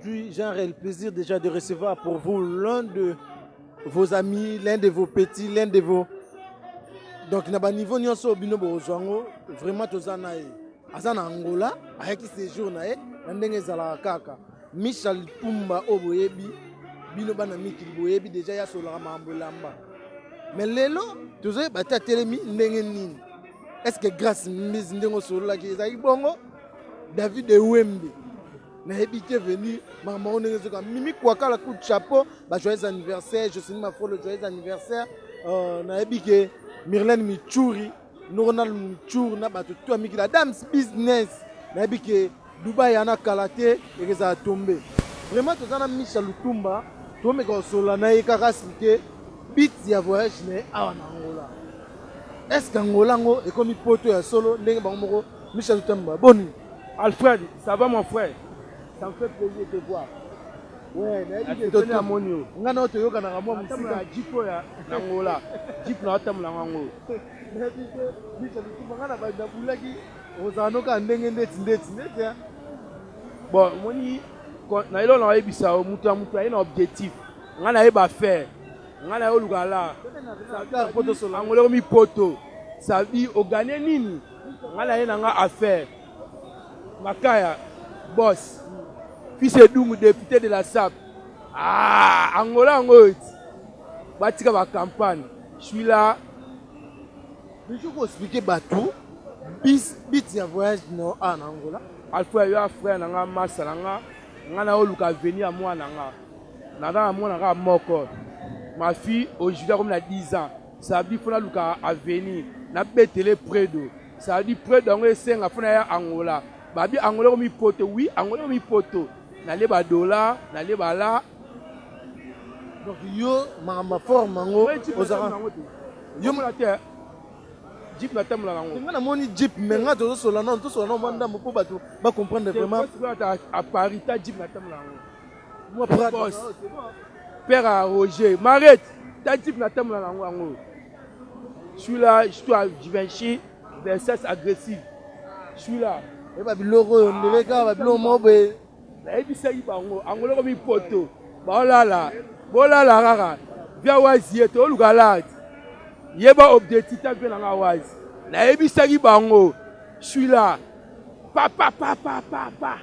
Puis j'ai le plaisir déjà de recevoir pour vous l'un de vos amis, l'un de vos petits, l'un de vos donc na ba niveau nyonso bino bozwa yango vraiment toza na ye aza na angola ayaki séjour na ye na ndenge ezalaka kaka michel pumba oyo boyebi bino bana mikili boyebi deja ye asololaka makambo elamba me lelo tozoyeba te atelemi ndenge nini est ce que grace mbisi ndenge osololaki ezalaki bongo david ewembe nayebi te veni makambo yango ndenge ezoka mimi kuakala coup de chapeau ba joyeux anniversaire josini mafolo joyeux anniversaire euh, nayebi ke mirlene michuri noronal michuri na bato to ya mikili adams business nayebi ke dubai ana kala te ekezala tombe vraiment toza na misha lutumba tomeka kosolola na ye kaka sike bit ya voyage na ye awa na angola est ce que angola yango ekomi poto ya solo ndenge bango moko misha lutumba boni Alfred ça va mon frère ça me fait plaisir de te voir Ouais, nayebi ke toni amoni yo ngai nao toyokanaka mwa mosika jip oyo na ngola jip na atambola yango yango nayebi te bisa bikufa ngai na bandi nabulaki ozala nokaa ndenge ndeti ndeti ndeti bon omoni na eloko na oyebisa yo moto ya moto aye na objectif ngai nayeba affaire ngai naye oluka la angoleko mipoto sabi ogane nini Nga naye na nga affaire makaya boss fils edungu depute de la sap ah, angola yango oyo ti batika ba campagne suis là biso ko expliquer bato bis bit ya voyage no awa na angola alfrère yo afrère na nga masa na nga nga na oluka aveni ya mwana na nga naza na mwana kaka moko ma fille aujourd'hui akomi na 10 ans Ça dit faut nalukaka avenue na betele predo ça dit predo yango esenga faut naya angola babi angola ekomi poto oui angola ekomi poto nalie ba dola nalie ba la donc yo makambo ya forme yango ozalaka yo mona te jeep natambolaka yango nga namoni jeep me nga tozosola nano tosola nano mwa ndambo mpo bato bacomprendre vraiment à paris ta jeep natambolaka yango Moi boss. Père à Roger. Marette. T'as type na tambola na ngo yango. Celui-là, histoire du Vinci, versus agressif. Celui-là. Et ba biloko yo ndele ka ba biloko mobe. Na ebisa yi bango. Angolo ko mi poto. Ba olala. Bolala rara. Via wazi yeto oluka lard. Yeba objectif ta via na nga wazi. Na ebisa yi bango. Celui-là. Pa pa pa pa pa pa.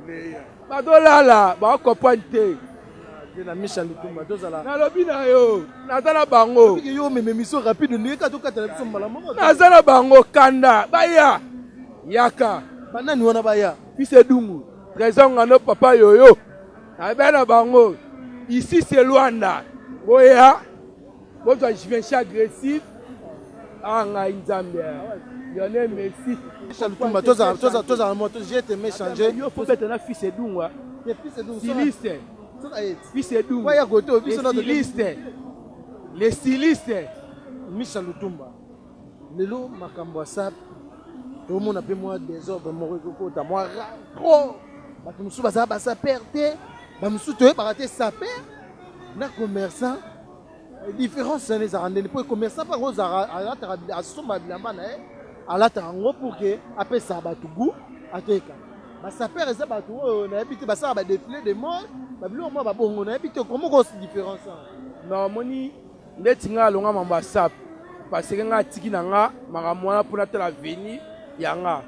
Meilleur. Bazo lala ba comprendre te. Ye na Misha Lutumba tozala. Nalobi na yo naza na bango. Biki yo meme mission rapide ndenge ka tokatela biso mbala moko. Naza na bango kanda baya yaka. Banani wana baya? Fils Edungu, Trésor Ngano, Papa Yoyo. Naza na bango. Ici c'est Luanda. Boya. Bozwa Givenchy agressif. Ah ngai Nzambe. Lionel Messi. Michel Lutumba toza toza toza moto je te me changer. Yo faut beta na fils Edungwa. Ye fils Edungwa. Siliste. Fils Edungwa. Waya goto biso na siliste. Le siliste. Michel Lutumba. Lelo makambo ya sap tomona mpe mwa desordre moko ekokota mwa ra trop bato mosusu bazala basaper te bamosusu toyebaka te saper na commerçant Difference na ezaka ndeni po commerçant pa ngo zaka alataka asomba bilamba na ye alataka ngo pour que apesa bato goût ateka basapere eza bato oyo nayebi te basalaka badefile de mode babiloko mwa babongo nayebi te komoko différence na omoni ndeti ngai alonga mambo ya sape paseke ngai atiki na ngai makambo wana mpo natala veni ya ngai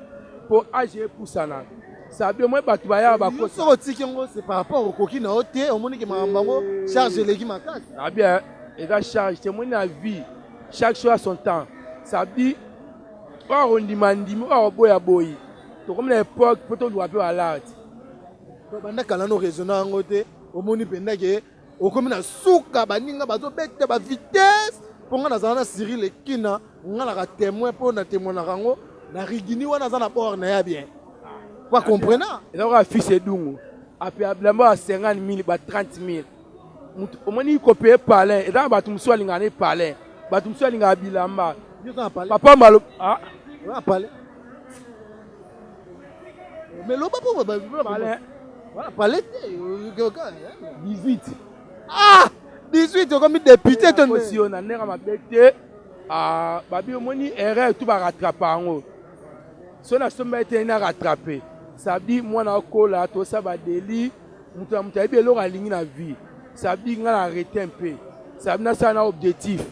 mpo age epusana Sabio mwe bato baya bakosi. Soki otiki yango c'est par rapport okoki na yo te omoni ke makambo yango charge eleki makasi. Sabia ah eza charge te omoni na vie chaque chose à son temps sabi oyo akondima ndimi oyo akoboya boyi tokomi na époque mpo toluka mpe balarte. Banda kala no raisonna yango te omoni mpenza ke okomi na suka baninga bazobeta ba vitesse mpo ngai nazala na siri lekina ngai naka témoin mpo na témoinaka yango na rigini wana aza na bord na ya bien pa comprena ezalaka affice edungu ape abilamba ya 50 mille ba 30 mille moto omoni kopeye palin eza na bato mosusu alingaka ne palin bato mosusu alingaka bilamba papa malo ah? Mais loba po ba palais. Voilà, palais te. 18. Ah! 18 okomi député to nde. Yo na ndenge mabe te. Ah, babi omoni erreur tout ba rattraper yango. So na somba ete na rattraper. Ça dit mwana akola to sa ba délit. Mutu na mutu ayebi eloko alingi na vie. Ça dit nga na arrêter un peu. Ça dit na sa na objectif.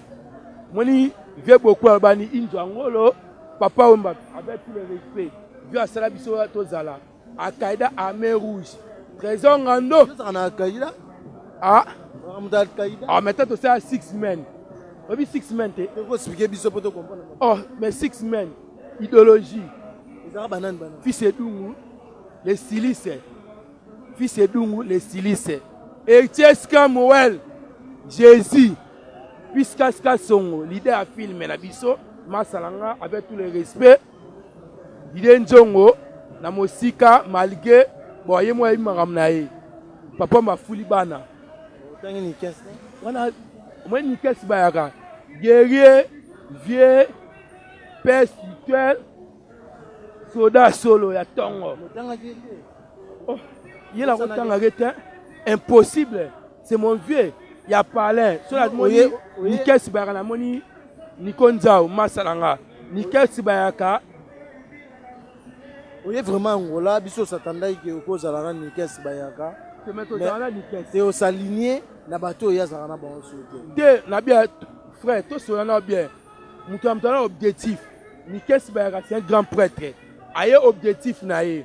Moni vie beaucoup abani inzo angolo. Papa Wemba avec tout le respect vie asala biso tozala Al-Qaeda armée rouge Trésor Ngando tozala na Al-Qaeda ah moto Al-Qaeda ah maintenant tosala six men oyebi six men te ko expliquer biso po to comprendre oh mais six men idéologie ezaka banani banani fils Edungu les silice fils Edungu les silice Etiesca Moel Jésus Piscas Kasongo, leader ya film na biso, masa na nga avec tout le respect. Didier Nzongo na mosika malgré bon ye mwa yebi makambo na ye. Papa mafuli bana. Otangi Nikes. Wana omoni Nikes bayaka guerrier vieux père spirituel soda solo ya tongo. Motangaki te. Oh, ye na kotangaki te. Impossible. C'est mon vieux ya palais. Soki namoni Nikes Bayaka namoni Niko Nzao masala nga. Nikes Bayaka oye vraiment Angola biso satandaki ke okozala na Nikes Bayaka. Te osaligne na bato oyo azalaka na bango soki te. Te na bien frère tosola na bien. Moto ya moto na objectif. Nikes Bayaka c'est un grand prêtre. Aye objectif na ye.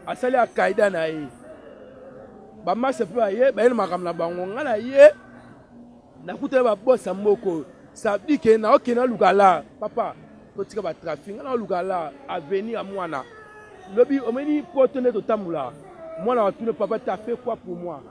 Asali akaida na ye. Ba masta pe baye baye na makambo na bango nga na ye nakutana ba boss ya moko oyo sabdi ke na okende aluka la papa totika ba trafic nga na oluka la avenir ya mwana lobi omeni poto nde totambola mwana watuna papa ta fait quoi pour moi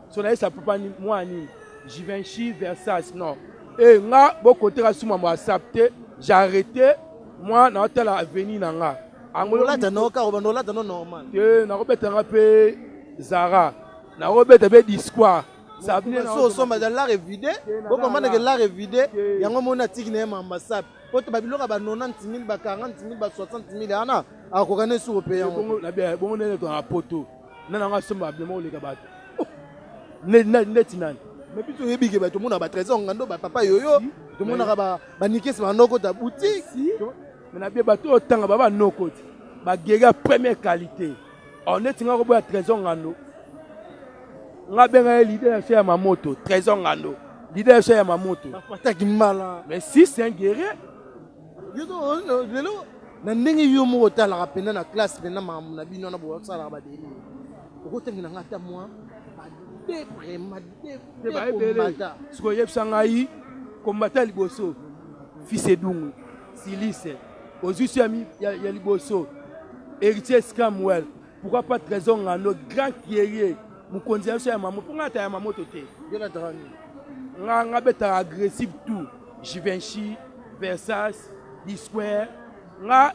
so na yesa papa ni mwana nini Givenchy Versace non e eh, nga bokoteka suma mwa sap te j'ai arrêté mwa na otala avenir na nga Angololata no karo ba nolata no normal. Te nakobeta nga pe Zara. Nakobeta pe Disqua. Sabine na so somba da l'art vide. Bo comprendre que l'art vide yango moni atiki na ye ma ambassade. Po to ba biloko ba 90000 ba 40000 ba 60000 ana akoka ne sur pe yango. Bongo na bia bongo ne to na poto. Na na nga somba bima oleka bato. Oh. Ne ne ne tinani. Mais biso yebi ke bato mona ba trésor ngando ba papa yoyo. Tomonaka ba ba nikes ba ndoko ta boutique. Mais na bie bato oyo tanga baba noko ti. Ba guerrier ya première qualité. Or neti nga ko boya trésor ngando. Nga benga ye leader ya ya mamoto, trésor ngando. Leader ya ya mamoto. Ba pataki mbala. Mais si c'est un guerrier. Lelo na ndenge yo moko otalaka mpenza na classe mpenza makambo na bino wana bosalaka badeli okotangela ngai ata mwa badebremadaebele sikoyebisa ngai kombata liboso fils edungu Silise, ozwi so ya liboso, Heritier Scamwell, pourquoi pas Trésor Ngando, grand guerrier, mokonzi ya biso ya mamoto, mpo ngai ata ya mamoto te. Yo nataka nini? Nga nga betaka agressive tout, Givenchy, Versace, Disquare, nga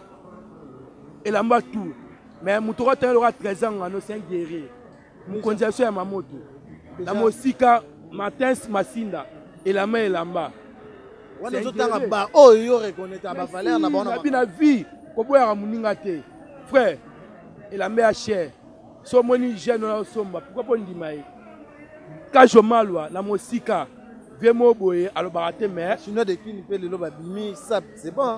elamba tout. Mais moto okotenga lokola Trésor Ngando, c'est un guerrier. mokonzi ya biso ya mamoto na mosika matins masinda elamba elamba wana ezotanga ba oyo yo reconnaître ba valeur na bango na vie koboyaka moninga te frère elamba ya cher so omoni jeune oyo osomba pourkoi mpo ndima ye kajo malwa na mosika vie moko boye alobaka te mais chinois de kini mpe lelo babimi sap c'est bon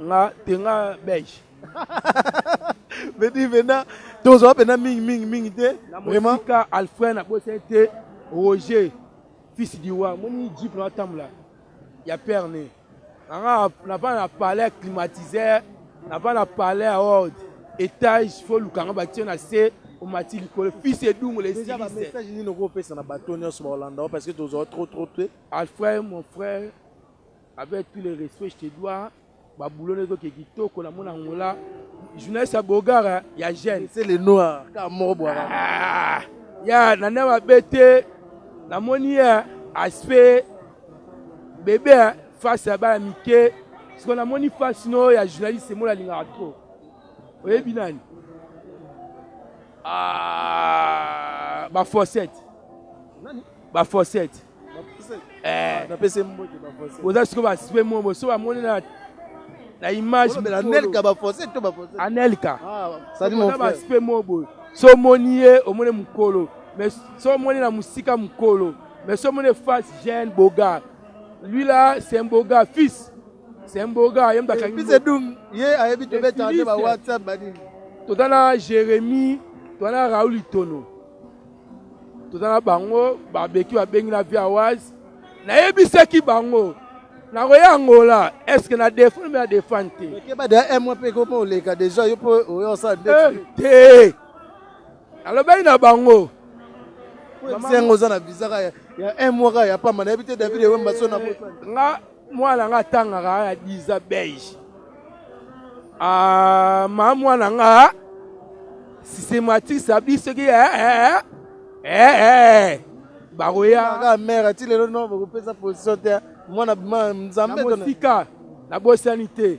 nga te nga belge beti mpena tozwa mpena mingi mingi mingi te vraiment ka alfred na bosa te roger fils du roi moni jeep na atambola ya père ne anga na va na palais climatiseur na va na palais ya ord étage fo lukanga batie na se omati likolo fils edungu le déjà ba message nini okopesa na bato nyonso baolanda parce que tozwa trop trop te alfred mon frère Avec tout le respect je te dois ba boulot ne zoke kitoko na mona ngola journaliste ya bogara ya jeune c'est le noir ka moko bwara ah, ya na na ba bete na moni ya aspect bebe hein, face ya bana mike siko na moni face no ya journaliste mona lingaka trop oyebi nani ah, ba fossette ba fossette Eh. oza siko basipe mo boso bamoni na na image anelka bafoncé to bafoncé anelka ah, basipe mo boye so omoni ye omoni mokolo mais so omoni na mosika mokolo mais so omoni face jeune boga lui là c'est un boga fils c'est un boga ye moto akangi ye ayebi tobeta nde ba whatsapp banini toza na jérémie toza na raoul itono toza na bango babeki babengi na via wise nayebisaki bango nakoya angola estce na defendre me na defendre te okeba deja un mois mpe ekoma oleka deja yo mpo oya osala nde eh, te alobaki na bango yango oza na visa ya un mois kaka ya pamba nayebi te david ewemba so na eh, nga Mwana nga atangaka kaka 10 ans beige. Ah, ma mwana nga systématique ça dit ce qui est eh eh eh bakoya kaka mère ti lelo no bakopesa position te mwana bima nzambe na mosika na bosani te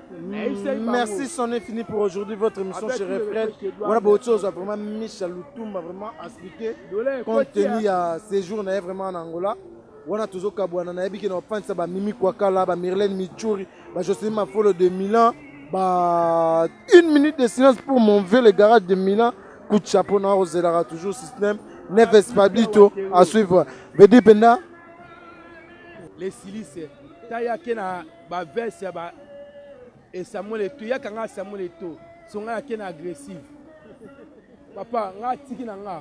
Merci son infini pour aujourd'hui votre émission chez Refred. Voilà beaucoup chose vraiment Micha Lutumba vraiment expliqué compte tenu ya séjour na vraiment en Angola. wana tozokabwana nayebi ke na bafandisa bamimi kwakala bamirlene michuri bajocelin mafolo de milan ba une minute de silence pour mon vieux le garage de milan coup de chapeau na ozelaka toujours système neves pablito à suivre vedi penda les silice tayake na ba veste ya ba e Samuel Eto yaka nga Samuel Eto songa na ken agressive papa nga tiki na nga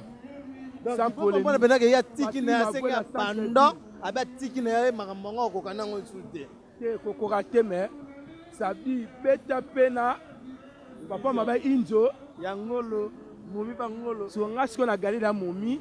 sans polemique mwana pendaka ya tiki na ya seka pendant abe tiki na ya makambo yango akoka nango lisusu te te kokoka te mais sabi beta pe na papa maba injo ya ngolo momi ba ngolo songa siko na galile ya momi